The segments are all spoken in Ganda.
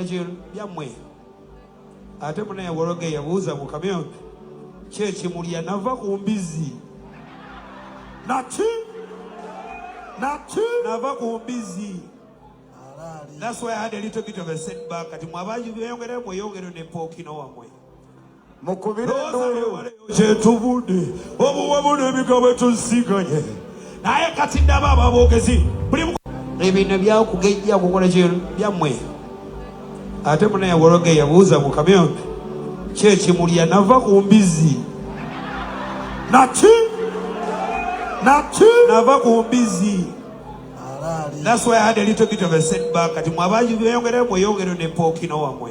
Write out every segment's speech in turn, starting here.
byammwe ate munaye wologe yabuuza mu kamyo kyekimulya nava ku mbizzi naki naki nava ku mbizzi That's why I had a little bit of a setback. Kati mwabaji beyongere mweyongere ne pokino wamwe. mukubire enduulu kyetubudde obuwamu n'ebigambo etuzisiganye naye kati ndaba ababoogezi ebino byakugejja kukola kino byammwe ate munaye wologe yabuuza mu kamyo kyekimulya nava ku mbizzi naki naki nava ku mbizzi That's why I had a little bit of a setback. Kati mwabaji beyongere mweyongere ne pokino wamwe.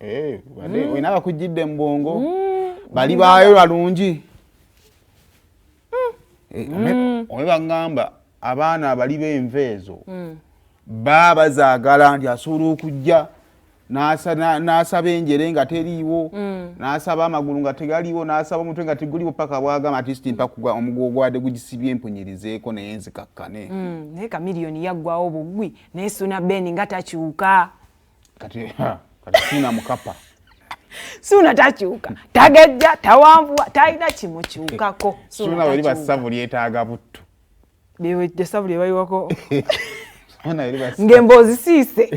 Eh, bade mm. wena bakujidde mbongo mm. bali bayo balungi mm. eh, mm. owe bangamba abaana abali benve ezo mm. baba zagala nti asobola okujja nasaba enjere nga teriiwo mm. nasaba amagulu nga tegaliwo nasaba omutwe nga teguliwo paka bwagamba atisti mpakugwa omugu ogwade gugisibye empunyirizeeko naye nzikakkane mm. naye kamiliyoni yaggwawo bugwi naye suna ben nga takyuka kati kati sina mukapa suuna takyuka tagejja tawanvuwa talina kimukyukako suuna weri basavu lyetaaga buttu esavu lyebayiwako ng'emboozi siise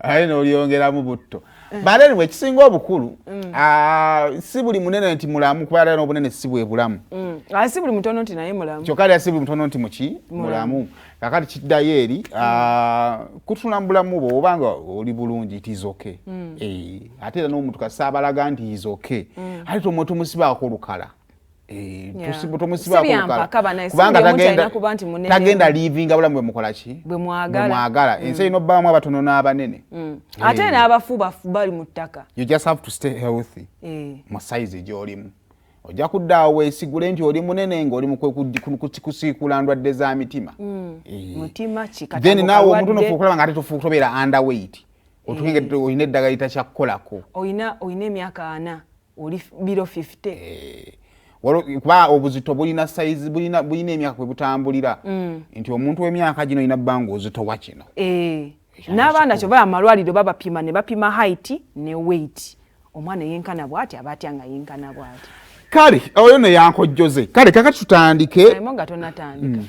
aye n'olyongeramu butto eh. but anyway ekisinga obukulu mm. ah, si buli munene nti mulamu kuba era n'obunene si bwe bulamu mm. ah, si buli mutono nti naye mulamu kyokka era si buli mutono nti muki mulamu kakati kiddayo eri mm. ah, kutula mubulamu bwe obanga oli bulungi tizoke mm. eh, ate era n'omuntu kasi abalaga nti izoke mm. ate tomwe tomusibaako olukala eh, tagenda livinga bulamu bwemukolaki bwemwagala ensi erina obbaamu abatono n'abanene ate eh. n'abafu bali mu ttaka mu saizi gy'olimu ojja kudda awo weesigule nti oli munene ng'oli mukusiikuula ndwadde za mitima mm. eh. then naawe omuntu nofuuka okulaba nga ate tofuuka tobeera underweight eh. otukinga olina eddagala litakyakukolako olina emyaka ana oli biro 50 eh. kuba obuzito bulina sayizi bulina emyaka kwe butambulira mm. nti omuntu w'emyaka gino olina bbanga ozitowa kino n'abaana kyoba amalwaliro babapima ne bapima height ne weight omwana eyenkana bwati aba atya nga yenkana bwati kale oyo neyankojjoze kale kakati tutandike nga tonatandika mm.